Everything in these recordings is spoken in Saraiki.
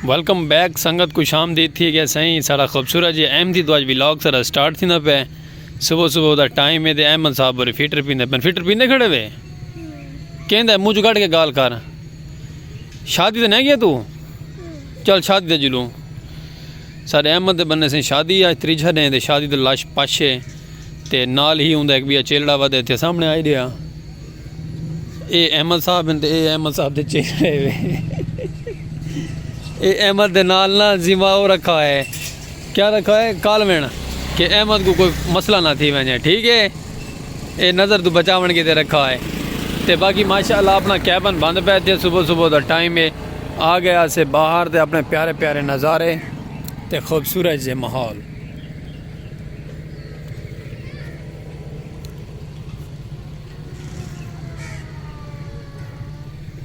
ویلکم بیک سنگت کو شام دید تھی گیا سائیں سارا خوبصورت جی احمدی دواج ویلاگ سارا سٹارٹ تھی نہ پہ صبح صبح دا ٹائم ہے دے احمد صاحب بری فیٹر پیندے پین فیٹر پیندے کھڑے وے کہندہ ہے مجھو گھڑ کے گال کر شادی دے نہیں گیا تو چل شادی دے جلوں سارے احمد دے بننے سے شادی آج تری جھا دیں دے شادی دے لاش پاشے تے نال ہی ہوں دے ایک بیا چیلڑا ودے تے سامنے آئی دیا اے احمد صاحب ہن تے اے احمد صاحب دے چہرے وے اے احمد دے نال نا زیما او رکھا ہے کیا رکھا ہے کال وین کہ احمد کو کوئی مسئلہ نہ تھی وینے ٹھیک ہے اے نظر تو بچا ون کے تے رکھا ہے تے باقی ماشاءاللہ اپنا کیبن بند پہ تے صبح صبح دا ٹائم ہے آ گیا سے باہر تے اپنے پیارے پیارے نظارے تے خوبصورت جے ماحول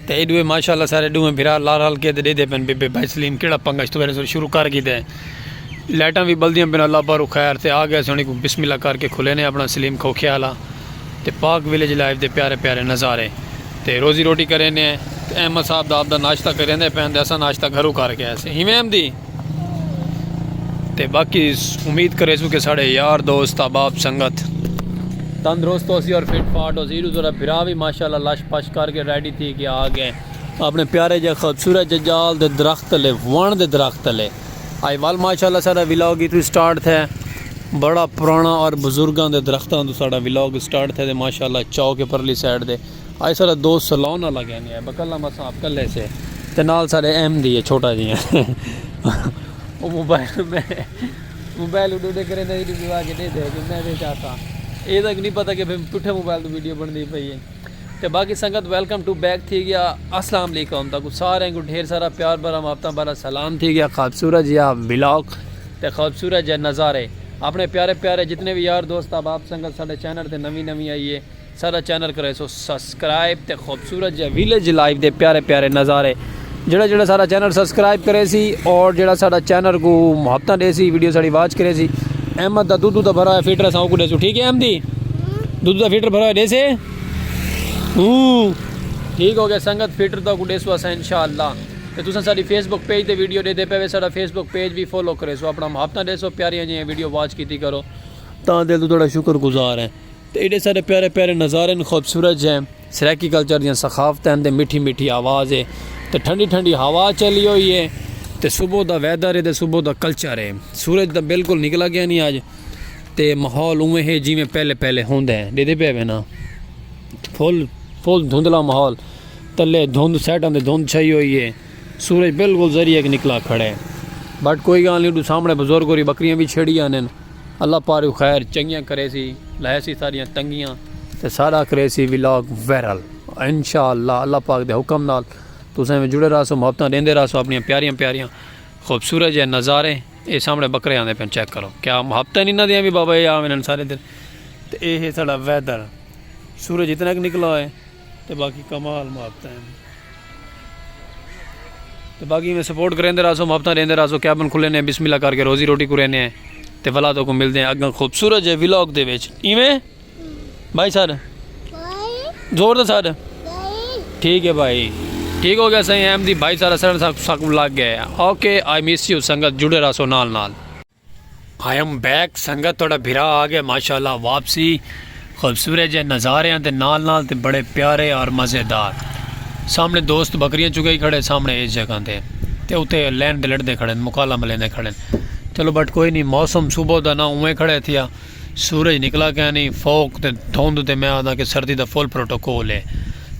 تے ایہ ݙوہیں ماشاءاللہ سارے ݙوہیں بھرا لال لال کے تے ݙیدے پن بے بے بھائی سلیم کیڑا پنگا اس تو پہلے شروع کر کیتے لائٹاں بھی بلدیاں پن اللہ پارو خیر تے آ گیا سونی کو بسم اللہ کر کے کھلے نے اپنا سلیم کھوکھے والا تے پاک ویلیج لائیو دے پیارے پیارے نظارے تے روزی روٹی کرے نے تے احمد صاحب دا اپ دا ناشتہ کرے نے پہن دے اساں ناشتہ گھرو کر کے ایسے ہی میں احمدی تے باقی امید کرے سو کہ ساڑے یار دوست احباب سنگت تندرست ہو سی اور فٹ فاٹ ہو سی ایڈو سارا بھرا بھی ماشاءاللہ لش پش کر کے ریڈی تھی کے آ گئے اپنے پیارے جے خوبصورت جے جال دے درخت لے وان دے درخت لے آئی وال ماشاءاللہ سارا ولاگ ہی تو سٹارٹ تھے بڑا پرانا اور بزرگاں دے درختاں تو سارا ولاگ سٹارٹ تھے دے ماشاءاللہ چاو کے پرلی سائیڈ دے آئی سارا دوست سلون نہ لگے نہیں ہے بکلہ مساں آپ کلے سے تے نال سارے ایم دی ہے چھوٹا جی ہیں وہ موبائل میں موبائل اڈو دے کرے نہیں دی آگے دے دے کہ میں دے چاہتا اے تک نہیں پتا کہ پھر پٹھے موبائل تو ویڈیو بن دی پئی ہے تے باقی سنگت ویلکم ٹو بیک تھی گیا السلام علیکم تاکو سارے کو ڈھیر سارا پیار بھرا ماپتا بھرا سلام تھی گیا خوبصورت جی آپ ولاگ تے خوبصورت جی نظارے اپنے پیارے پیارے جتنے بھی یار دوست آپ آپ سنگت سارے چینل تے نوی نوی آئیے ساڈا چینل کریسو سسکرائب تے خوبصورت جیہے ویلیج لائف دے پیارے پیارے نظارے جیہڑا جیہڑا ساڈا چینل سسکرائب کریسی اور جیہڑا ساڈا چینل کوں محبتاں ڈیسی ویڈیو ساڈی واچ کریسی احمد دا دودو دا بھرا ہویا فیٹر اساں اوکوں ڈیسو ٹھیک ہے احمدی دودو دا فیٹر بھرا ہویا ڈیسے ہوں ٹھیک ہو گیا سنگت فیٹر دا کو ڈیسو اساں انشاءاللہ تے تساں ساڈی فیس بک پیج تے ویڈیو ڈیدے پے وے ساڈا فیس بک پیج وی فالو کریسو اپنا محبتاں ڈیسو پیاریاں جیہیاں ویڈیو واچ کیتی کرو تاں دل توں تہاڈا شکر گزار ہیں تے ایڈے سارے پیارے پیارے نظارے ہن خوبصورت جے سرائیکی کلچر دیاں ثقافتاں ہن تے میٹھی میٹھی آواز ہے تے ٹھنڈی ٹھنڈی ہوا چلی ہوئی ہے تے صبح دا ویدر ہے تے صبح دا کلچر ہے سورج تاں بالکل نکلا گیا نہیں آج تے ماحول اوویں ہے جیویں پہلے پہلے ہوندا ہے ݙیکھدے پئے وے نا فل فل دھندلا ماحول تلے دھند سائڈاں تے دھند چھائی ہوئی ہے سورج بالکل ذریعہ کہ نکلا کھڑا ہے بٹ کوئی گالھ نہیں ݙو سامݨے بزرگ ہوری بکریاں وی چھیڑی آندن اللہ پاروں خیر چنگیاں کریسی لہیسی ساڈیاں تنگیاں تے ساڈا کریسی ولاگ وائرل انشاءاللہ اللہ پاک دے حکم نال تساں ایویں جڑے راہسو محبتاں ڈیندے راہسو اپنیاں پیاریاں پیاریاں خوبصورت جے نظارے اے سامنے بکرے آندے پن چیک کرو کیا محبتاں نہیں انہاں دیاں وی بابا اے آوینن سارے دن تے اے ہے ساڈا ویدر سورج اتنا کہ نکلا ہوئے تے باقی کمال محبتاں ہن تے باقی میں سپورٹ کریندے رہسو محبتاں ڈیندے رہسو کیبن کھلے نے بسم اللہ کر کے روزی روٹی کرے نے تے ولا تو کو ملدے ہیں اگاں خوبصورت جے ولاگ دے وچ ایویں بھائی سر زور دے سر ٹھیک ہے بھائی ٹھیک ہو گیا سائیں ایم دی بھائی سارا سر ساکم لگ گئے اوکے آئی مس یو سنگت جڑے رہسو نال نال I am back سنگت تہاڈا بھرا آ گیا ماشاءاللہ واپسی خوبصورت جے نظاریاں دے نال نال تے بڑے پیارے اور مزے دار سامنے دوست بکریاں چگائی کھڑے سامنے اس جگہ تے تے اتے لین تے لڑدے کھڑے مکالا ملیندے کھڑے چلو بٹ کوئی نی موسم صبح دا نہ اوویں کھڑے تھیا سورج نکلا کینی فوق تے دھند تے میں آدھاں کہ سردی دا فل پروٹوکول ہے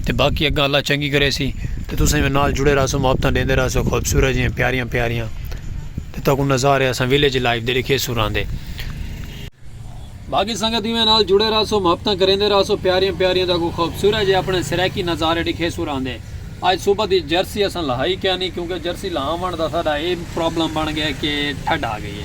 تے باقی اگاں اللہ چنگی کرے سی تے تساں وی نال جڑے رہسو محبتاں ڈیندے رہسو خوبصورت جیاں پیاریاں پیاریاں تے تاکوں نظارے اساں ویلیج لائف دے ڈکھے سو راں دے۔ باقی سنگت ایویں نال جڑے رہسو محبتاں کریندے رہسو پیاریاں پیاریاں تاکوں خوبصورت جے اپنے سرائیکی نظارے ڈکھے سو راں دے۔ اج صبح دی جرسی اساں لہائی کینی کیونکہ جرسی لہاونڑ دا ساڈا اے پرابلم بن گئے کہ ٹھڈ آ گئی ہے۔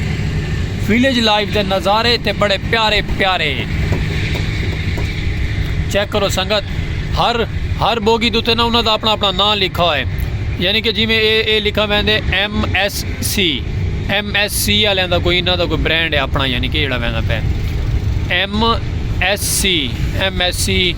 ویلیج لائف دے نظارے تے بڑے پیارے پیارے چیک کرو سنگت ہر ہر بوگی دوتے نا انہاں دا اپنا اپنا نام لکھا ہوئے یعنی کہ جی میں اے اے لکھا ویندے M S C M S C والے دا کوئی انہاں دا کوئی برانڈ ہے اپنا یعنی کہ جڑا ویندا پہ M S C M S C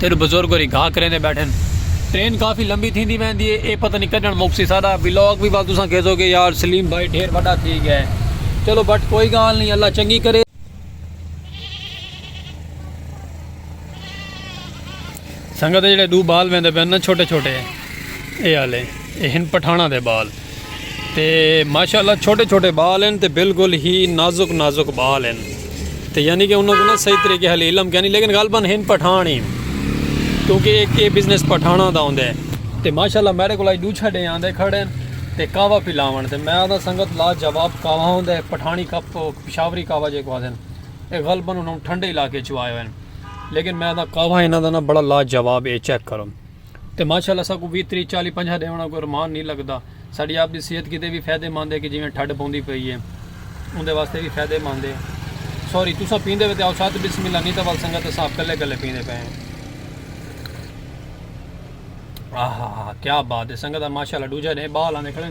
تیݙو بزرگ ہوری گھا کریندے بیٹھن ٹرین کافی لمبی تھیندی ویندی ہے اے پتہ نہیں کڈھن مکسی ساڈا ولاگ وی ول تساں کھیسو گے یار سلیم بھائی ڈھیر وڈا تھی گیا ہے چلو بٹ کوئی گال نہیں اللہ چنگی کرے۔ سنگت جیڑھے ڈو بال ویندے پن نا چھوٹے چھوٹے اے آلے اے ہن پٹھاناں دے بال۔ تے ماشاءاللہ چھوٹے چھوٹے بال ہیں تے بالکل ہی نازک نازک بال ہیں تے یعنی کہ انہوں کو نا صحیح طریقے حال علم کیا نہیں لیکن غالباً ہن پٹھان ہی کیونکہ ایک یہ بزنس پٹھانا دا ہوندے ہیں تے ماشاءاللہ میرے کو لائی دو چھڑے آندے کھڑے ہیں تے کعوہ پلاون تے میں آدھا سنگت لا جواب کعوہ ہوندے پٹھانی کپ پشاوری کعوہ جے کو آدھے ہیں ایک غالباً انہوں ٹھنڈے علاقے چوائے ہوئے ہیں لیکن میں آدھا کعوہ انہوں دا نا بڑا لا جواب اے چیک کروں تے ماشاء اللہ اساکوں ویہہ تریہہ چالیہہ پنجاہ دے آوݨا کوئی ارمان نی لڳدا۔ ساݙی آپ دی صحت کیتے وی فائدے مند اے کہ جیویں ٹھڈ پوندی پئی اے اوندے واسطے وی فائدے مند اے۔ سوری تساں پیندے وے تے آؤ ست بسم اللہ نی تاں ول سنگت اساں آپ کلھے کلھے پیندے پئے ہیں۔ آہا ہا ہا کیا بات اے سنگت ماشاء اللہ ݙوجھا ݙینہہ ٻال آندے کھڑے۔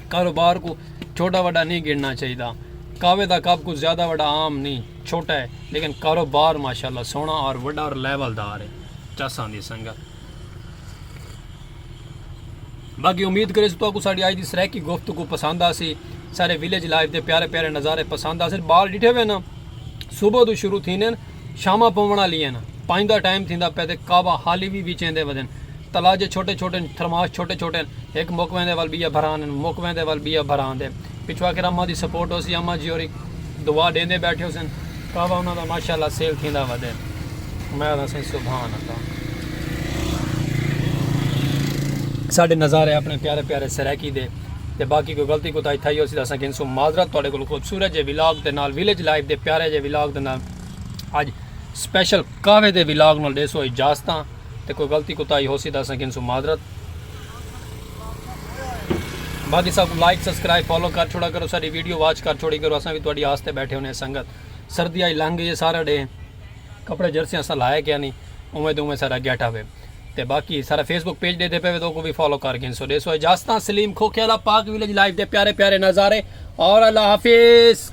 کاروبار کوں چھوٹا وڈا نی گنڑنا چاہیدا کاوے دا کپ کوں زیادہ وڈا عام نی چھوٹا ہے لیکن کاروبار ماشاءاللہ سوہنا اور وڈا اور لیول دار ہے چاساں دی سنگت باقی امید کرے تو کو ساڑی آج دی سرائکی گفتگو پسند آسی سارے ویلیج لائف دے پیارے پیارے نظارے پسند آسن بال ڈٹھے ہوئے نا صبح تو شروع تھینے شاماں پووݨ آلیاں ہن۔ پنج دا ٹائم تھیندا پئے تے کعبہ حالی وی وچیندے ودن۔ تلاجھے چھوٹے چھوٹے ہن، تھرماش چھوٹے چھوٹے ہن۔ ہک مک ویندے ول ٻیا بھرا آندن، مک ویندے ول ٻیا بھرا آندے۔ پچھوں آخر اماں دی سپورٹ ہوسی، اماں جی ہوری دعا ݙیندے بیٹھے ہوسن۔ کعبہ انہاں دا ماشاء اللہ سیل تھیندا ودے۔ میں آکھداں سئیں سبحان اللہ۔ ساݙے نظارے اپݨے پیارے پیارے سرائیکی دے۔ تے باقی کوئی غلطی کوتاہی تھائی ہوسی تاں اساں گھنسوں معذرت تہاڈے کولوں خوبصورت جے ولاگ دے نال ولیج لائف دے پیارے جے ولاگ دے نال اج سپیشل قہوے دے ولاگ نال ڈیسو اجازتاں تے کوئی غلطی کوتاہی ہوسی تاں اساں گھنسوں معذرت باقی سب لائک سبسکرائب فالو کر چھوڑا کرو ساری ویڈیو واچ کر چھوڑی کرو اساں بھی تہاڈی آس تے بیٹھے ہونے سنگت سردی آئی لنگ گئی سارا ڈے کپڑے جرسیاں اساں لائے کیا نہیں اوویں تے اوویں سارا گیٹا وے تے باقی سارا فیس بک پیج ڈیدھے پے وے دو کو بھی فالو کر گھن سو ڈیسو اجازتاں سلیم کھوکھے والا پاک ویلیج لائف دے پیارے پیارے نظارے اور اللہ حافظ